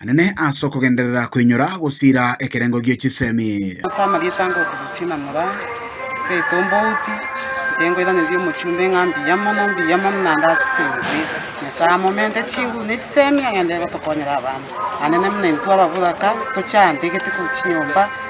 anene as'okogenderera koinyora gosiira ekerengo gie chisemi. Ase amarieta ngokusesie na mura, ase etombouti, inche nkoiraneria omochumbe ng'a mbuya mono, mbuya mono naende ase eng'encho Nyasae amomente chinguru ne chisemi agenderere gotokonyera abana, anene buna intwe ababoraka, tochantegete korwa chinyomba.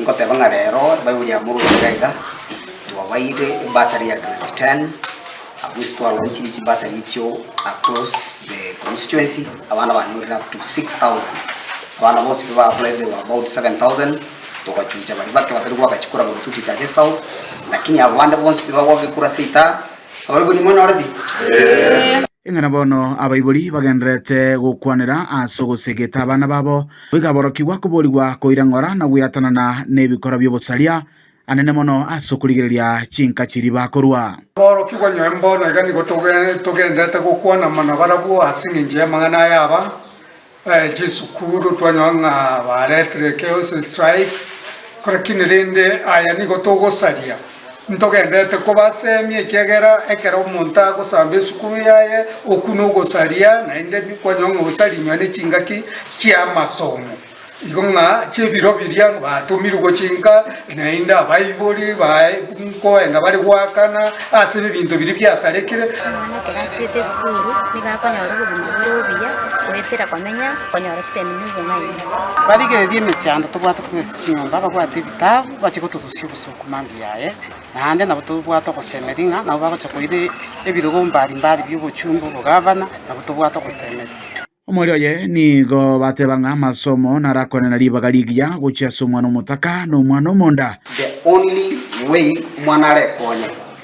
Nkoteba ng'a rero Ebaibuli ya Moroni iga iga, twabaeire ebursary ya grade ten, at least twa launchire chibursary echio across the constituency, abana banyorire up to 6000. Abana bonsi ba apply they were about 7000, togachucha baria bake batari goaka chikura bono tochiche ase South, lakini abo bande bonsi pi bagoaka ekura ase Itaara, Abaibori monyore pi? Ing'ana bono abaibori bagendererete gokwanera ase ogosegeta abana babo Bwegaborokigwa koborigwa koirang'ora na gweatanana nebikora bi'obosaria, anene mono ase okorigereria chinka chiria bakorua. Aborokigwa nyore mbono iga nigo togenderete gokwana amo nabarabwo ase engencho y'amang'ana aya aba chisukuru twanyora ng'a baretire chaos strikes, lakini rende aya nigo togosaria Ntogendete kobaseemia, ekiagera ekero omonto agosamba esukuru yaye, okwo nogosaria, naende kwanyora ng'a osarinywe nechingaki chi'amasomo, igo ng'a chi'ebiro biria batomirwe gochinka, naende abaibori baye nkoenda bare goakana ase ebinto biria biasarekire. Omwana ekero achiete esukuru nigo akonyora obogima bore obuya, goetera komenya, konyora esemi na obong'aini. Barigereria emechando tobwate kotogesa chinyomba, babwate ebitabu, bache gotorusia obosio. Amambia yaye, naende nabo tobwate ogosemeria ng'a nabo bagocha koira ebirogo mbari mbari bi'obochumba obogavana, nabo tobwate ogosemeria. Omoerio oye nigo bateba ng'a amasomo narakwane na ribaga rigiya gochia ase omwana omotaka na omwana omonda. The only way omwana arekonye.